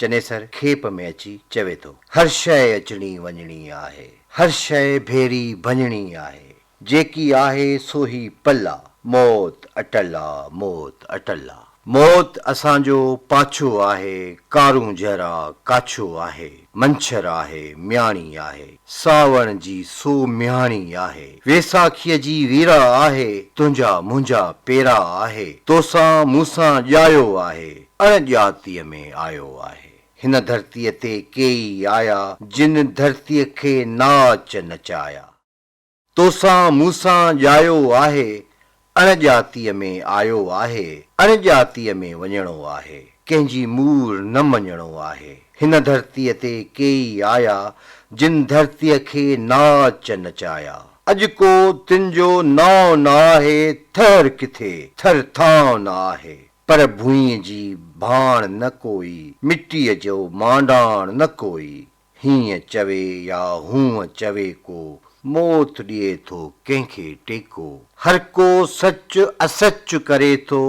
چنيسر کيپ ۾ اچي چوي ٿو، هر شيء اچڻي وڃڻي آهي، هر شيء ڀيري ڀڃڻي آهي، جيڪي آهي سو هي پل آ، موت اٽل آ، موت اٽل آ. موت اسان جو پاڇو آهي، ڪارون جهرا ڪاڇو آهي، منڇر آهي، مياڻي آهي، ساوڻ جي سو ميهاڻي آهي، ويساکيء جي ويرا آهي، تنهنجا منهنجا پيرا آهي، توسان مون سان ڄايو آهي، اڻڄاتيء ۾ آيو آهي. هن ڌرتيء تي ڪيئي آيا، جن ڌرتيء کي ناچ نچايا. توسان مون سان ڄايو آهي، اڻڄاتيء ۾ آيو آهي، اڻڄاتيء ۾ وڃڻو آهي، ڪنهن جي مور نه مڃڻو آهي. هن ڌرتيء تي ڪيئي آيا، جن ڌرتيء کي ناچ نچايا. اڄ ڪو تن جو نانء نه آهي، ٿهر ڪٿي، ٿر ٿانء نه آهي. پر ڀونء جي ڀاڻ نه ڪوئي، مٽيء جو مانڊاڻ نه ڪوئي، هينء چوي يا هونء چوي ڪو، موت ڏئي ٿو ڪنهن کي ٽيڪو. هر ڪو سچ اسچ ڪري ٿو،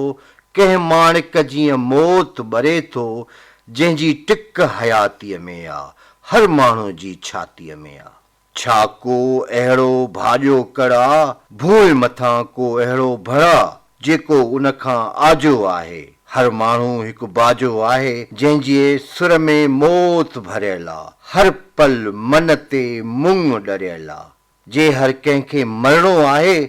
ڪنهن ماڻڪ جيئن موت ٻري ٿو، جنهن جي ٽڪ حياتيء ۾ آ، هر ماڻهوء جي ڇاتيء ۾ آ. ڇا ڪو اهڙو ڀاڄو ڪڙا، ڀوء مٿان ڪو اهڙو ڀڙا، جيڪو ان کان آجو آهي. هر ماڻهو هڪ باجو آهي، جنهن جي سر ۾ موت ڀريل آ. هر پل من تي مڱ ڏريل آ. جي هر ڪنهن کي مرڻو آهي،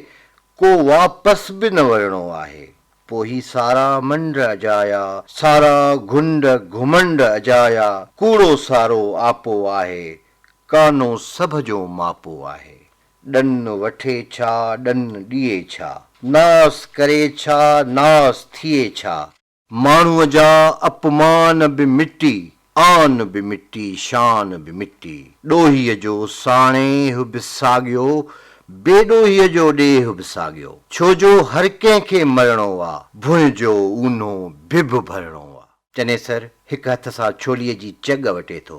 ڪو واپس به نه ورڻو آهي. پوء هي سارا منڊ اجايا، سارا گهنڊ گهمنڊ اجايا، ڪوڙو سارو آپو آهي، ڪانو سڀ جو ماپو آهي. ڏن وٺي ڇا، ڏن ڏئي ڇا. ناس ڪري ڇا، ناس ٿئي ڇا. ماڻهوء جا اپمان به مٽي، آن به مٽي، شان به مٽي. ڏوهيء جو ساڻيهه به ساڳيو، بي ڏوهيء جو ڏيهه به ساڳيو. ڇو جو هر ڪنهن کي مرڻو آ، ڀونء جو اونهو ڀڀ ڀرڻو آ. چنيسر هڪ هٿ سان ڇوليء جي چڳ وٽي ٿو،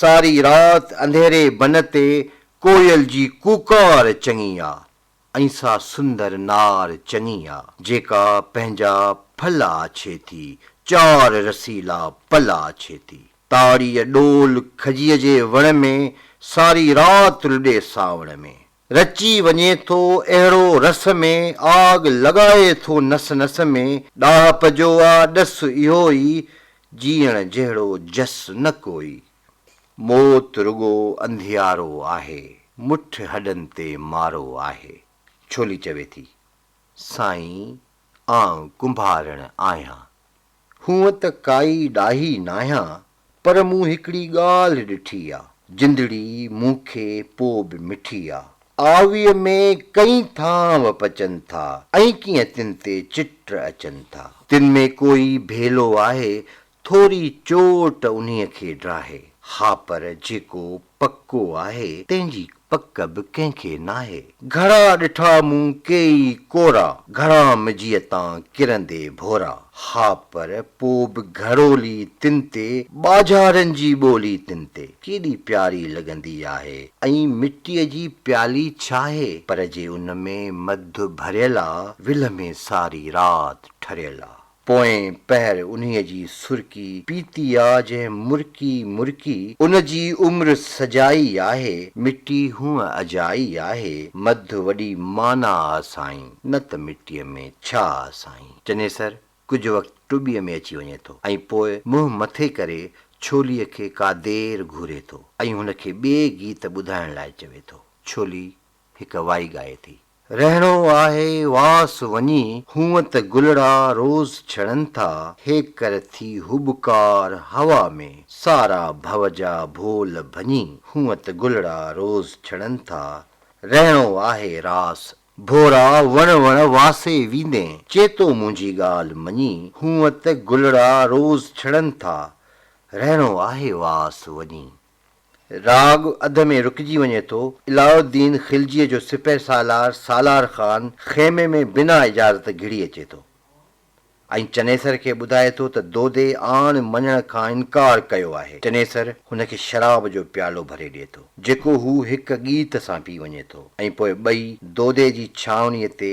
ساري رات انڌيري بن تي ڪوئل جي ڪوڪار چڱي آ ۽ سا سندر نار چڱي آ جيڪا پنهنجا ڦل آڇي ٿي چار رسيلا پل آڇي ٿي تاڙيء ڏول کجيء جي وڻ ۾ ساري رات لڏي سانوڻ ۾. رچي وڃي ٿو اهڙو رس ۾، آڳ لڳائي ٿو نس نس ۾، ڏاهپ جو آ ڏس اهو ئي، جيئڻ جهڙو جس نه ڪوئي، موت رڳو انڌيارو آهي، مٺ هڏن تي مارو آهي، ڇولي چوي ٿي، سائين آئون ڪنڀارڻ آهيان، هونء ته ڪائي ڏاهي ناهيان پر مون هڪڙي ڳالهه ڏٺي آ. جندڙي مون کي پو به مٺي آ. آويء ۾ ڪئين ٿانو پچن ٿا ۽ ڪيئن تن تي چٽ اچن ٿا. تن ۾ ڪوئي ڀيلو آهي ٿوري چوٽ انهيء کي ڊاهي. ها پر جيڪو پڪو آهي، تنهن جي پڪ به ڪنهن کي ناهي. گهڙا ڏٺا مون ڪيئي ڪورا، گهڻا مجيء تان ڪرندي ڀورا. ها پر پوء به گهڙولي تن تي، ٻاجهارن جي ٻولي تن تي، ڪيڏي پياري لڳندي آهي. ائين مٽيء جي پيالي ڇاهي، پر جي ان ۾ مڌ ڀريل آ، ولهه ۾ ساري رات ٺريل آ. پوئين پهر انهيء جي سرڪي پيتي آ جنهن مرڪي مرڪي ان جي عمر سجائي آهي. مٽي هونء اجائي آهي. مڌ وڏي معنيٰ آ سائين، نه ته مٽيء ۾ ڇا آ سائين. چنيسر ڪجهه وقت ٽٻيء ۾ اچي وڃي ٿو ۽ پوء منهن مٿي ڪري ڇوليء کي ڪا دير گهوري ٿو ۽ هن کي ٻئي گيت ٻڌائڻ لاء چوي ٿو. ڇولي هڪ وائي ڳائي ٿي. رهڻو آهي واس وڃي، هونء ته گلڙا روز ڇڙن ٿا، هيڪر ٿي هٻڪار هوا ۾، سارا ڀو جا ڀول ڀڃي، هونء ته گلڙا روز ڇڙن ٿا، رهڻو آهي راس. ڀورا وڻ وڻ واسي ويندين، چيتو منهنجي ڳالهه مڃي، هونء ته گلڙا روز ڇڙن ٿا، رهڻو آهي واس وڃي. راڳ اڌ ۾ رڪجي وڃي ٿو. علاء الدين خلجيء جو سپهه سالار سالار خان خيمي ۾ بنا اجازت گهڙي اچي ٿو ۽ چنيسر کي ٻڌائي ٿو ته دودي آڻ مڃڻ کان انڪار ڪيو آهي. چنيسر هن کي شراب جو پيالو ڀري ڏئي ٿو، جيڪو هو هڪ ڳيت سان پي وڃي ٿو ۽ پوء ٻئي دودي جي ڇانوڻيء تي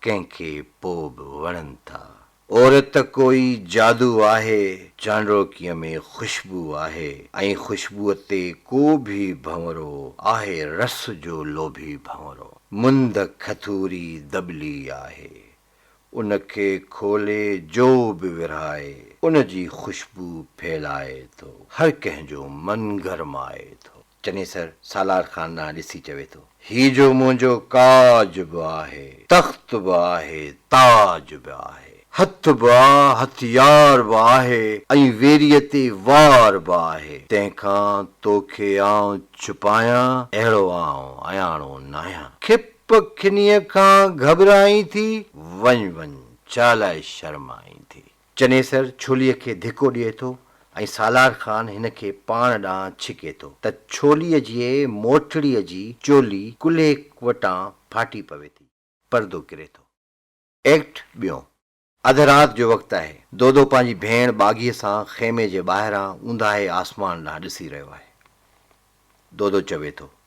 ڪنهن کي پوء به وڻن ٿا. عورت ڪوئي جادو آهي، چانڊوڪيء ۾ خوشبو آهي ۽ خوشبوء تي ڪو به ڀنورو آهي رس جو لوڀي ڀنورو. مند کٿوري دٻلي آهي، ان کي کولي جو به ورهائي، ان جي خوشبو ڦهلائي ٿو، هر ڪنهن جو من گرمائي ٿو. چنيسر سالار خان ڏانهن ڏسي چوي ٿو. هي جو منهنجو ڪاج به آهي، تخت به آهي، تاج به آهي، هٿ به آ، هٿيار به آهي ۽ ويريء تي وار به آهي، تنهن کان تو کي آئون ڇپايان، اهڙو آئون اياڻو ناهيان. کپ کنيء کان گهٻرائين ٿي، وڃ وڃ، ڇا لاء شرمائين ٿي. چنيسر ڇوليء کي ڌڪو ڏئي ٿو ۽ سالار خان هن کي پاڻ ڏانهن ڇڪي ٿو ته ڇوليء جي موٽڙيء جي چولي ڪلهي وٽان ڦاٽي پوي ٿي. پردو ڪري ٿو. ايڪٽ ٻيون. اڌ رات جو وقت آهي. دودو پنهنجي ڀيڻ ٻاگهيء سان خيمي جي ٻاهران اونداهي آسمان ڏانهن ڏسي رهيو آهي. دودو چوي ٿو.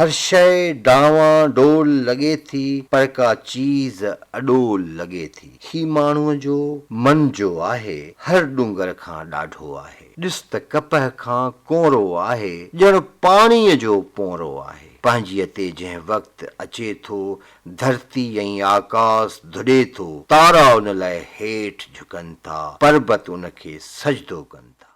هر شيء ڊانوان ڊول لڳي ٿي، پر ڪا چيز اڏول لڳي ٿي. هي ماڻهوء جو من جو آهي، هر ڏونگر کان ڏاڍو آهي. ڏس ته ڪپهه کان ڪونرو آهي، ڄڻ پاڻيء جو پونرو آهي. پنهنجيء تي جنهن وقت اچي ٿو، ڌرتي ۽ آڪاس ڌڏي ٿو، تارا ان لاء هيٺ جهڪن ٿا، پربت ان کي سجدو ڪن ٿا.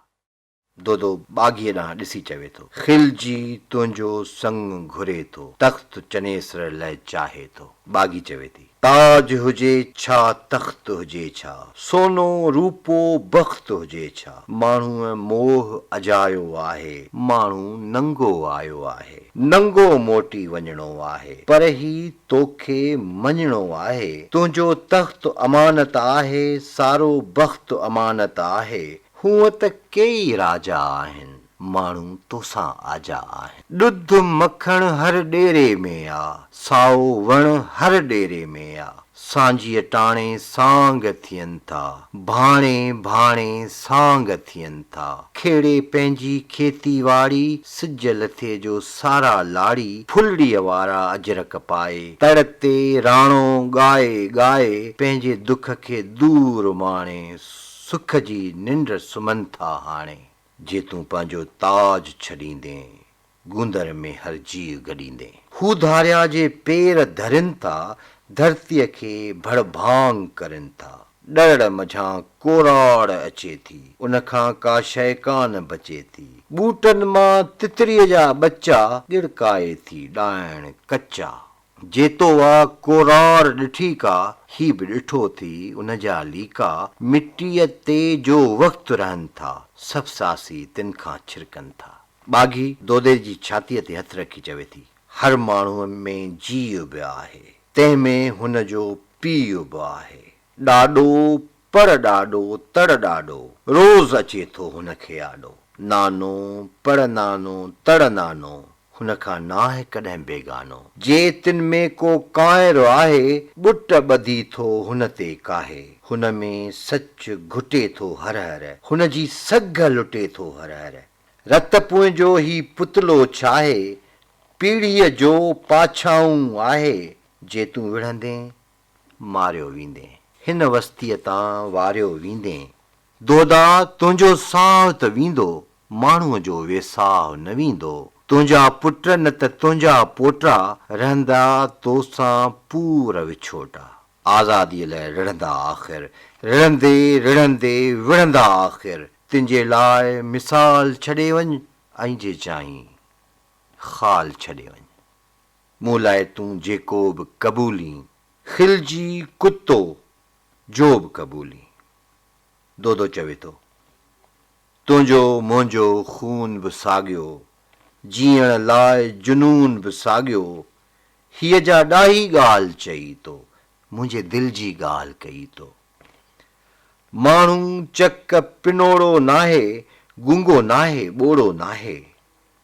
دودو ٻاگهيء ڏانهن ڏسي چوي ٿو. خلجي تنهنجو سڱ گهري ٿو. تخت چنيسر لئه چاهي ٿو. ٻاگهي چوي ٿي. تاج هجي ڇا تخت هجي ڇا. سونو روپو بخت هجي ڇا. ماڻهوء موهه اجايو آهي. ماڻهو ننگو آيو آهي. ننگو موٽي وڃڻو آهي. پر هي توکي مڃڻو آهي. تنهنجو تخت امانت آهي. سارو بخت امانت آهي. هونء ته ڪيئي راجا آهن، ماڻهو توسان آجا آهن. ڏڌ مکڻ هر ڏيري ۾ آ، سائو وڻ هر ڏيري ۾ آ. سانجهيء ٽاڻي سانگ ٿين ٿا، ڀاڻي ڀاڻي سانگ ٿين ٿا. کهڙي پنهنجي کيتي واڙي، سج لٿي جو سارا لاڙي. ڦلڙيء وارا اجرڪ پائي، تڙ تي راڻو ڳائي ڳائي، پنهنجي دک کي دور ماڻي. سک جي ننڊ سمهن ٿا هاڻي. جي تون پنهنجو تاج ڇڏيندين. گوندر ۾ هر جيء گڏيندين. هو ڌاريا جي پير ڌرين ٿا. ڌرتيء کي ڀڙ ڀانگ ڪرين ٿا. ڏڙڙ منجهان ڪوراڙ اچي ٿي. ان کان ڪا شيء ڪانه بچي ٿي. ٻوٽن مان تتريء جا ٻچا. ڳڙڪائي ٿي ڏائڻ ڪچا. جيتو آ ڪورار ڏٺي ڪا، هي به ڏٺو ٿي ان جا ليڪا، مٽيء تي جو وقت رهن ٿا، سڀ ساسي تن کان ڇرڪن ٿا. ٻاگهي دودي جي ڇاتيء تي هٿ رکي چوي ٿي، هر ماڻهوء ۾ جيء به آهي، تنهن ۾ هن جو پيء به آهي. ڏاڏو پڙ ڏاڏو تڙ ڏاڏو، روز اچي ٿو هن کي آڏو. نانو، پڙ نانو، تڙ نانو، هن کان ناهه ڪڏهن بيگانو. جي تن ۾ ڪو ڪانئر آهي، ٻٽ ٻڌي ٿو هن تي ڪاهي. هن ۾ سچ گهٽي ٿو هر هر، هن جي سگهه لٽي ٿو هر هر. رت پونء جو هي پتلو ڇاهي، پيڙهيء جو پاڇائون آهي، جي تون وڙهندين ماريو ويندين. هن وستيء تان واريو ويندين. دودا! تنهنجو ساهه ته ويندو، ماڻهوء جو ويساهه نه ويندو. تنهنجا پٽ نه ته تنهنجا پوٽا، رهندا تو سان پور وڇوٽا. آزاديء لاء رڙهندا آخر، رڙهندي رڙهندي وڙهندا آخر. تنهنجي لاء مثال ڇڏي وڃ ۽ جي چاهين خال ڇڏي وڃ. مون لاء تون جيڪو به قبولين، خلجي ڪتو جو به قبولين. دودو چوي ٿو، تنهنجو منهنجو خون به ساڳيو، جيئڻ لاء جنون به ساڳيو، هيء جا ڏاهي ڳالهه چئي تو، منهنجي دل جي ڳالهه ڪئي تو. ماڻهو چڪ پنوڙو ناهي، گونگو ناهي، ٻوڙو ناهي.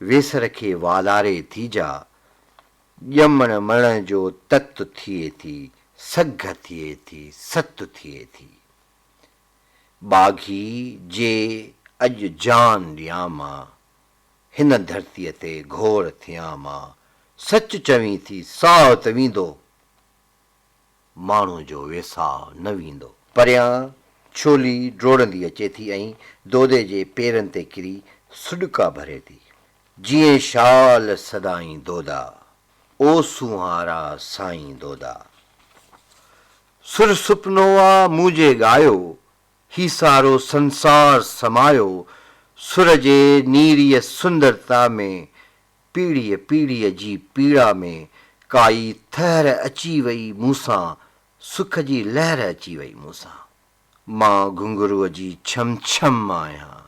ويسر کي والاري ٿي جا، ڄمڻ مڙڻ جو تت ٿئي ٿي، سگهه ٿئي ٿي، ست ٿئي ٿي. ٻاگهي جي اڄ جان ڏيان مان، هن ڌرتيء تي گهور ٿيان مان، سچ چوين ٿي، ساهه ته ويندو، ماڻهو جو ويساء نه ويندو. پريان ڇولي ڊوڙندي اچي ٿي ۽ دودي جي پيرن تي ڪري سڏڪا ڀري ٿي. جيئن شال سدائين دودا، او سونهارا سائين دودا. سر سپنو آ منهنجي ڳايو، هي سارو سنسار سمايو، سر جي نيريء سندرتا ۾، پيڙهيء پيڙهيء جي پيڙا ۾، ڪائي ٿهر اچي وئي مون سان، سک جي لهر اچي وئي مون سان. مان گهنگهروء جي ڇم ڇم آهيان،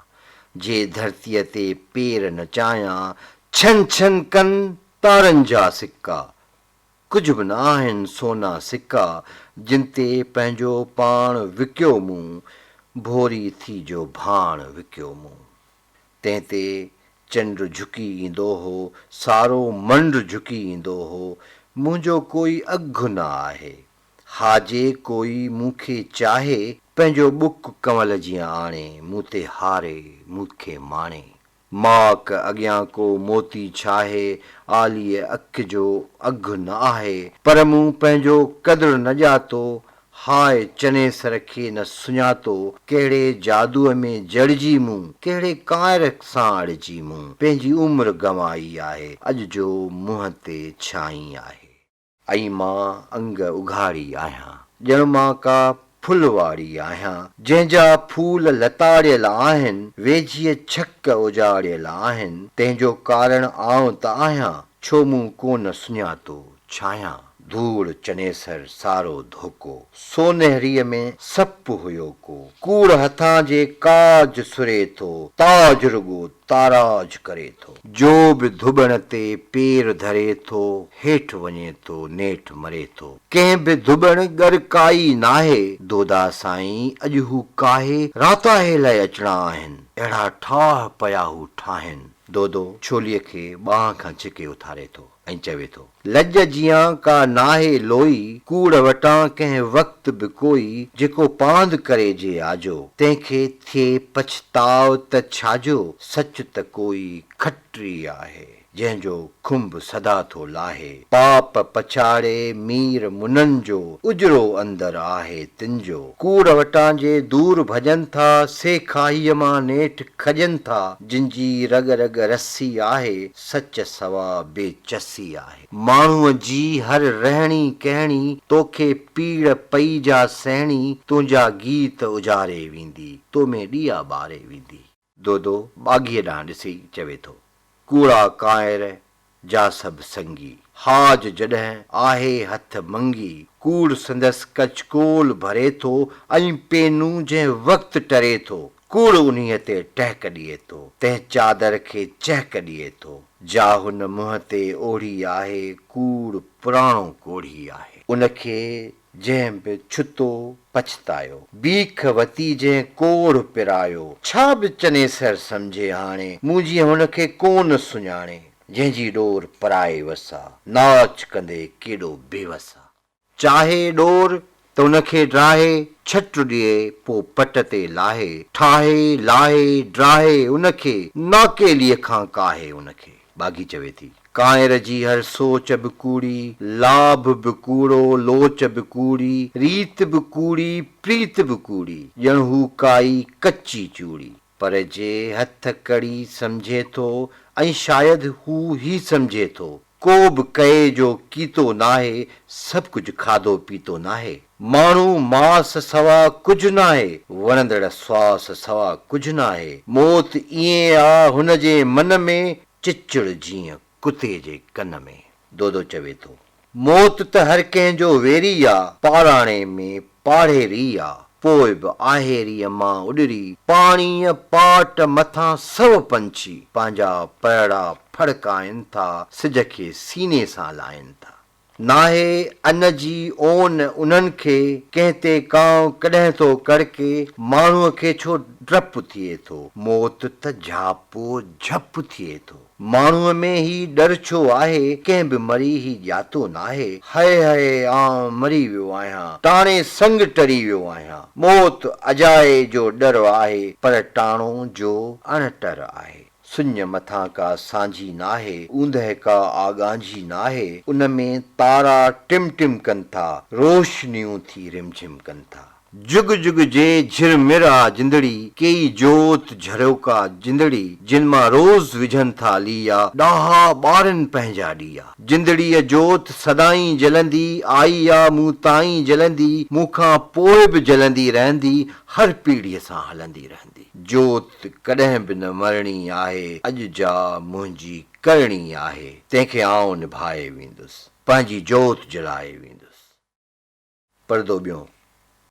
جي ڌرتيء تي پير نچايان، ڇن ڇن ڪن تارن جا سڪا، ڪجهه به نه آهن سونا سڪا، جن تي پنهنجو پاڻ وڪيو مون، ڀوري ٿي جو ڀاڻ وڪيو مون. تنهن تي چنڊ جهڪي ايندو هو، سارو منڊ جهڪي ايندو هو. منهنجو ڪوئي اگهه نه آهي. ها جي ڪوئي مون کي چاهي، پنهنجو ٻڪ ڪنول جيان آڻي، مون تي هاري، مون کي ماڻي. ماڪ اڳيان ڪو موتي ڇاهي، عاليء اک جو اگهه نه آهي. پر مون پنهنجو قدر نه ڄاتو، هاء چنيسر کي نه سڃاتو، ڪهڙي جادوء ۾ جڙجي مون، ڪهڙي ڪانئر سان اڙجي مون، پنهنجي عمر گنوائي آهي، اڄ جو منهن تي ڇانئي آهي. ائين مان انگ اگهاڙي آهيان، ڄڻ مان ڪا ڦل واري آهيان، جنهن جا ڦول لتاڙيل آهن، ويجهيء ڇڪ اجاڙيل آهن، تنهن جو ڪارڻ آئون ته آهيان، ڇو مون ڪونه سڃاتو، ڇانهيان، ڌوڙ، چنيسر، سارو، ڌوڪو، سونهريء ۾ سپ هيو ڪو، ڪوڙ هٿان جي ڪاج سري ٿو، تاج رڳو تاراج ڪري ٿو. جو به ڌٻڻ تي پير ڌري ٿو، هيٺ وڃي ٿو، نيٺ مري ٿو. ڪنهن به ڌٻڻ ڳر ڪائي ناهي، دودا سائين اڄ هو ڪاهي، راتاهي لئه اچڻا آهن، اهڙا ٺاهه پيا هو ٺاهين. دودو ڇوليء کي ٻانهن کان ڇڪي اٿاري ٿو. ۽ چوي ٿو. لڄ جيان ڪا ناهي لوئي، ڪوڙ وٽان ڪنهن وقت به ڪوئي، جيڪو پاند ڪري جي آجو، تنهن کي ٿئي پڇتاء ته ڇاجو، سچ ته ڪوئي کٽري آهي، جنهن جو کنڀ سدا ٿو لاهي، پاپ پڇاڙي مير منن جو، اجرو اندر آهي تن جو، ڪوڙ وٽان جي دور ڀڄن ٿا، سي کاهيء مان نيٺ کڄن ٿا، جن جي رڳ رڳ رسي آهي، سچ سوا بي چسي آهي. ماڻهوء جي هر رهڻي ڪهڻي، توکي پيڙ پئي جا سهڻي، تنهنجا گيت اجاري ويندي، تو ۾ ڏيئا ٻاري ويندي. دودو ٻاگهيء ڏانهن ڏسي چوي ٿو، ڪوڙا ڪانئر جا سڀ سنگي، حاج جڏهن آهي هٿ منگي، ڪوڙ سندس ڪچڪول ڀري ٿو، ۽ پينون جنهن وقت ٽري ٿو، ڪوڙ انهيء تي ٽهڪ ڏئي ٿو، تنهن چادر کي چهڪ ڏئي ٿو، جا هن منهن تي اوڙهي آهي، ڪوڙ پراڻو ڪوڙهي آهي. ان کي جنهن به ڇتو، پڇتايو، بيک وتي جنهن ڪوڙهه پرايو، ڇا به چنيسر سمجهي هاڻي، مون جيئن هن کي ڪو نه سڃاڻي، جنهن جي ڏور پرائي وسا، ناچ ڪندي ڪيڏو بيوس آ. چاهي ڏور ته ان کي ڊاهي، ڇٽ ڏئي پوء پٽ تي لاهي، ٺاهي، لاهي، ڊاهي ان کي، ناکيليء کان ڪاهي ان کي. ٻاگهي چوي ٿي. ڪانئر جي هر سوچ به ڪوڙي، لاڀ به ڪوڙو، لوچ به ڪوڙي، ريت به ڪوڙي، پريت به ڪوڙي، ڄڻ هو ڪائي ڪچي چوڙي. پر جي هٿ ڪڙي سمجهي ٿو ۽ شايد هو هي سمجهي ٿو ڪوبه ڪئي جو ڪيتو ناهي سڀ ڪجهه کاڌو پيتو ناهي ماڻهو ماس سوا ڪجهه ناهي وڻندڙ سواس سوا ڪجهه ناهي موت ائين آ هن جي من ۾ چچڙ جيئن ڪتي جي ڪن ۾. دودو چوي ٿو. موت ته هر ڪنهن جو ويري آ، پاڙاڻي ۾ پاڙهيري آ، پوء به آهيريء مان اڏري پاڻيء پاٽ مٿان سو پنڇي پنهنجا پرڙا ڦڙڪائين ٿا، سج کي سيني سان لائين ٿا. ناهي ان جي اون انهن کي، ڪنهن تي ڪانء ڪڏهن ٿو ڪڙڪي، ماڻهوء کي ڇو ڊپ ٿئي ٿو، موت ته جهاپو جهپ ٿئي ٿو. ماڻهوء ۾ هي ڏر ڇو آهي، ڪنهن به مري هي ڄاتو ناهي، هئي هئي آئون مري ويو آهيان، ٽاڻي سڱ ٽري ويو آهيان، موت اجائي جو ڏر آهي، پر ٽاڻو جو اڻ ٽر آهي، سڃ مٿان ڪا سانجهي ناهي، اوندهه ڪا آڳانجهي ناهي، ان ۾ تارا ٽم ٽم ڪن ٿا، روشنيون ٿي رمجھم ڪن ٿا. جڳ جڳ جي جھرمر آ جندڙي، ڪيئي جوت جھريوڪا جندڙي، جن مان روز وجھن ٿا ليئا، ڏاها ٻارن پنھنجا ڏيئا. جندڙيء جوت سدائين جلندي، آئي آ مون تائين جلندي، مون کان پوء به جلندي رھندي، ھر پيڙھيء سان ھلندي رھندي. جوت ڪڏھن به نه مرڻي آھي، اڄ جا منھنجي ڪرڻي آھي، تنھن کي آئون نڀائي ويندس، پنھنجي جوت جلائي ويندس. پردو ٻيو.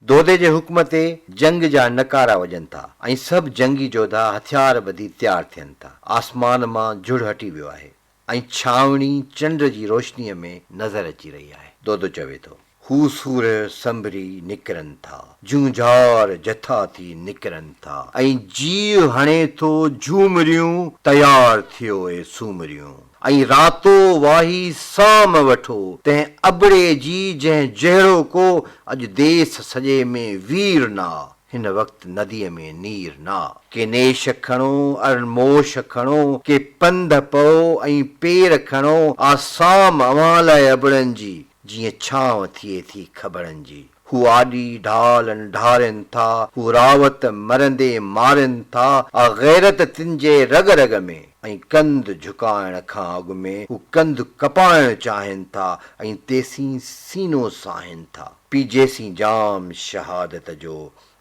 دودي جي حڪم تي جنگ جا نقارا وڄن ٿا ۽ سڀ جنگي جوڌا هٿيار ٻڌي تيار ٿين ٿا. آسمان مان جھڙ هٽي ويو آهي ۽ ڇانوڻي چنڊ جي روشنيء ۾ نظر اچي رهي آهي. دودو چوي ٿو. هو سورهه سنبري نڪرن ٿا. جونجھار جٿا ٿي نڪرن ٿا. ۽ جيء هڻي ٿو جھومريون، تيار ٿيو اي سومريون. ائين راتو واهي سام وٺو، تنهن ابڙي جي جنهن جهڙو ڪو اڄ ديس سڄي ۾ وير نا، هن وقت نديء ۾ نير نا. ڪي نيش کڻو ارن موش کڻو، ڪي پنڌ پئو ۽ پير کڻو، آ سام اوهان لاء ابڙن جي، جيئن ڇانو ٿئي ٿي کبڙن جي. هو آڏي ڍالن ڍارين ٿا، هو راوت مرندي مارين ٿا، آ غيرت تن جي رڳ رڳ ۾، ۽ ڪنڌ جهڪائڻ کان اڳ ۾ هو ڪنڌ ڪپائڻ چاهين ٿا، ۽ تيسين سينو ساهين ٿا. پيجيسين جام شهادت جو،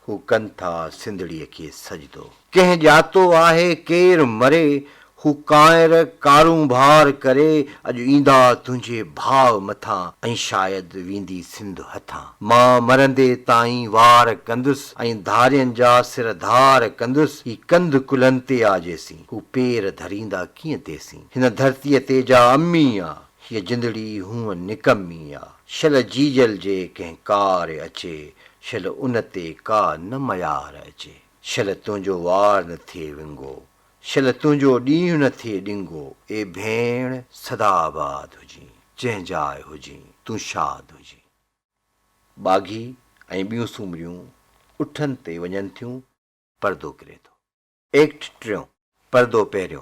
هو ڪن ٿا سنڌڙيء کي سجدو. ڪنهن ڄاتو آهي ڪير مري، هو ڪانئر ڪارونڀار ڪري، اڄ ايندا تنهنجي ڀاء مٿان، ۽ شايد ويندي سنڌ هٿان. مان مرندي تائين وار ڪندس، ۽ ڌارين جا سر ڌار ڪندس، هي ڪنڌ ڪلهن تي آ جيسين، هو پير ڌريندا ڪيئن تيسين، هن ڌرتيء تي جا امي آ، هيء جندڙي هونء نڪمي آ، شل جيجل جي ڪنهن ڪار اچي، شل ان تي ڪا نه ميار اچي. شل تنهنجو وار نه ٿئي ونگو، شل تنهنجو ڏينهن نه ٿئي ڏنگو، اي ڀيڻ سدا آباد هجين، جنهن جاء هجين، تون شاد هجين. ٻاگهي ۽ ٻيون سومريون اٺن تي وڃن ٿيون. پردو ڪري ٿو. ايڪٽ ٽيون، پردو پهريو،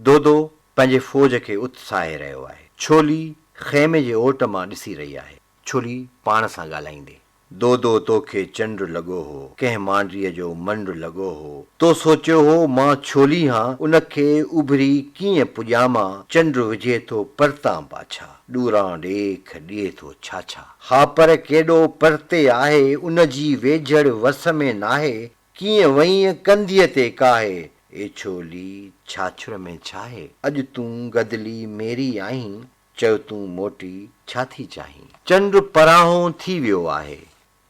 دودو پنهنجي فوج کي اتساهي رهيو آهي. ڇولي خيمي جي اوٽ مان ڏسي رهي آهي. ڇولي، پاڻ سان ڳالهائيندي، دودو توکي چنڊ لڳو هو، ڪنهن مانڊيء جو منڊ لڳو هو، تو سوچيو هو مان ڇولي هان، ان کي اڀري ڪيئن پڄامان، چنڊ وجهي ٿو پرتان پاڇا، ڏوران ڏيک ڏئي ٿو ڇاڇا. ها پر ڪيڏو پرتي آهي، ان جي ويجهڙ وس ۾ ناهي، ڪيئن وئينء ڪنڌيء تي ڪاهي، اي ڇولي، ڇاڇر ۾ ڇاهي؟ اڄ تون گدلي ميري آهين، چئو تون موٽي ڇا ٿي چاهين؟ چنڊ پراهون ٿي ويو آهي،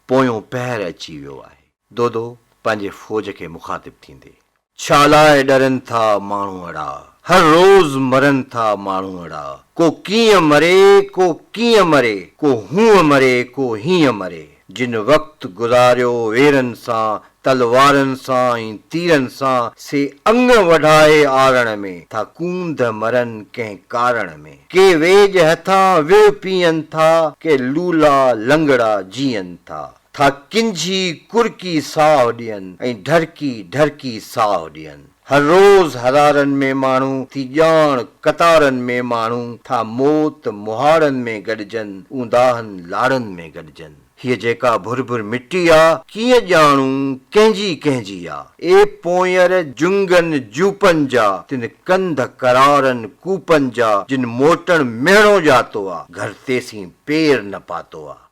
پويون پهر اچي ويو آهي. دودو، پنهنجي فوج کي مخاطب ٿيندي. ڇالاء ڏرن ٿا ماڻهو اڙا، هر روز مرن ٿا ماڻهو اڙا، ڪو ڪيئن مري، ڪو ڪيئن مري، ڪو هونء مري، ڪو هينء مري. جن وقت گذاريو ويرن سان، تلوارن سان ۽ تيرن سان، سي اڱ وڍائي آرڻ ۾، ٿا ڪونڌ مرن ڪنهن ڪارڻ ۾. ڪي ويڄ هٿان ويهه پيئن ٿا، ڪي لولا لنگڙا جيئن ٿا، ٿا ڪنجهي ڪرڪي ساهه ڏين ۽ ڍرڪي ڍرڪي ساهه ڏين. هر روز هرارن ۾ ماڻهو ٿي ڄاڻ، قطارن ۾ ماڻهو ٿا موت مهاڙن ۾ گڏجن، اونداهن لاڙن ۾ گڏجن. هيء جيڪا ڀر ڀر مٽي آ، ڪيئن ڄاڻون ڪنهن جي ڪنهن جي آ. اي پونئر جنگن جوپن جا، تن ڪنڌ ڪرارن ڪوپن جا، جن موٽڻ مهڻو ڄاتو آ، گهر تيسين پير نه پاتو آ.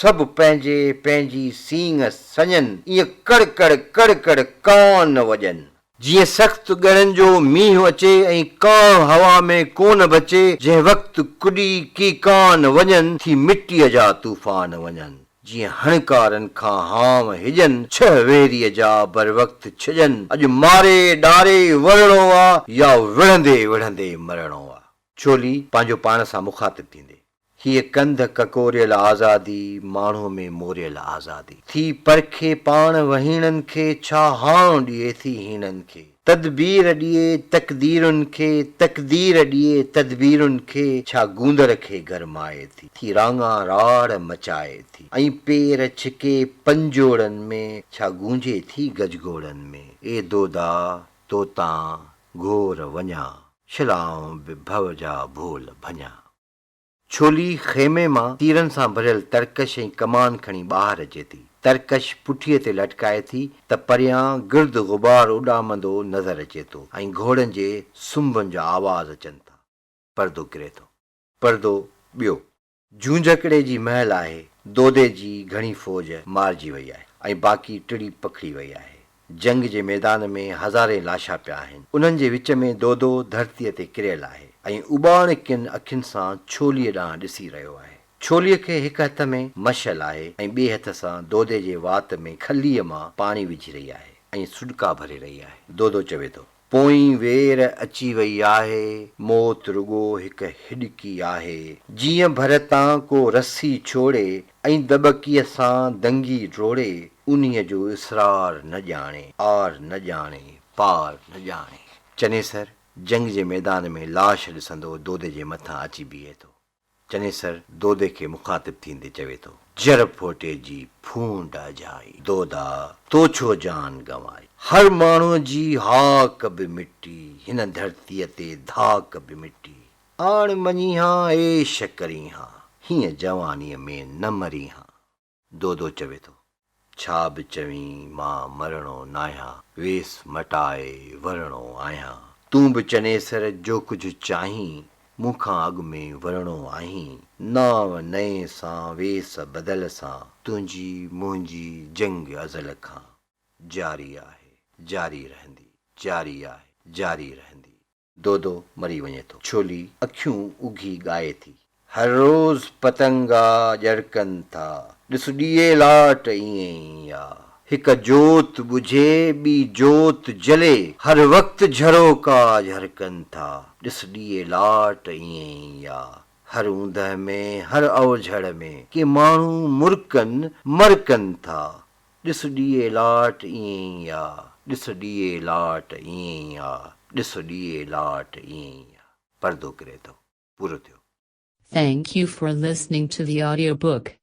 سڀ پنهنجي پنهنجي سينگ سڃن. ايئن ڪڙ ڪڙ ڪڙ ڪڙ ڪانه وڄن. جيئن سخت ڳڙن جو مينهن اچي ۽ ڪانه هوا ۾ ڪونه بچي جنهن وقت ڪڏي ڪيڪان وڃن ٿي مٽيء جا طوفان وڃن جيئن هڻڪارن کان هانء هجن ڇهه ويريء جا بروقت ڇڄن اڄ ماري ڏاري ورڻو آ يا وڙهندي وڙهندي مرڻو آ. ڇولي پنهنجو پاڻ سان مخاطب ٿيندي. هيء ڪنڌ ڪڪوريل آزادي، ماڻهوء ۾ موريل آزادي. ٿي پرکي پاڻ وهيڻن کي، ڇا هانء ڏئي ٿي هيڻن کي. تدبير ڏئي تقديرن کي، تقدير ڏئي تدبيرن کي، ڇا گوندر کي گرمائي ٿي. ٿي راڱا راڙ مچائي ٿي، ۽ پير ڇڪي پنجوڙن ۾، ڇا گونجي ٿي گجگوڙن ۾. اي دودا! تو تان گهور وڃان، شلائون به ڀؤ جا ڀول ڀڃان. ڇولي خيمي مان تيرن سان ڀريل ترڪش ۽ ڪمان کڻي ٻاهر اچي ٿي. ترڪش پٺيء تي لٽڪائي ٿي ته پريان گرد غبار اڏامندو نظر اچي ٿو ۽ گهوڙن جي سنبن جا آواز اچن ٿا. پردو ڪري ٿو. پردو ٻيو. جونجهڪڙي جي مهل آهي. دودي جي گهڻي فوج مارجي وئي آهي ۽ باقي ٽڙي پکڙي وئي آهي. جنگ جي ميدان ۾ هزارين لاشا پيا آهن، انهن جي وچ ۾ دودو ڌرتيء تي ڪريل آهي ۽ اٻاڻڪين اکين سان ڇوليء ڏانهن ڏسي رهيو آهي. ڇوليء کي هڪ هٿ ۾ مشعل آهي ۽ ٻئي هٿ سان دودي جي وات ۾ کليء مان پاڻي وجهي رهي آهي ۽ سڏڪا ڀري رهي آهي. دودو چوي ٿو. پوئين وير اچي وئي آهي، موت رڳو هڪ هڏڪي آهي. جيئن ڀر تان ڪو رسي ڇوڙي ۽ دٻڪيء سان دنگي ڊوڙي، انهيء جو اسرار نه ڄاڻي، آر نه ڄاڻي، پار نه ڄاڻي. چنيسر جنگ جي ميدان ۾ لاش ڏسندو دودي جي مٿان اچي بيهي ٿو. چنيسر دودي کي مخاطب ٿيندي چوي ٿو. جر ڦوٽي جي ڦونڊ اجهائي، دودا تو ڇو جان گنوائي. هر ماڻهو جي هاڪ به مٽي، هن ڌرتيء تي ڌاڪ به مٽي. آڻ مڃي هان عيش ڪرين هان، هينئن جوانيء ۾ نه مرين هان. دودو چوي ٿو، ڇا به چوين مان مرڻو ناهيان، ويس مٽائي ورڻو آهيان، تون به چنيسر جو ڪجهه چاهين، مون کان اڳ ۾ ورڻو آهين، نانء نئين سان ويس بدل سان، تنهنجي منهنجي جنگ ازل کان جاري آهي، جاري رهندي، جاري آهي، جاري رهندي. دودو مري وڃي ٿو. ڇولي اکيون اگهي ڳائي ٿي. هر روز پتنگا ڄڙڪن ٿا. ڏس ڏيئي لاٽ ائين ئي آ. هڪ جوت ٻجهي ٻي جوت جلي. هر وقت جهروڪا جهرڪن ٿا. ڏس ڏيئي لاٽ ائين ئي آ. هر اوندهه ۾، هر اوجهڙ ۾، ڪي ماڻهو مرڪن مرڪن ٿا. ڏس ڏيئي لاٽ ائين ئي آ، ڏس ڏيئي لاٽ ائين ئي آ، ڏس ڏيئي لاٽ ائين ئي آ. پردو ڪري ٿو. پورو ٿيو. Thank you for listening to the audiobook.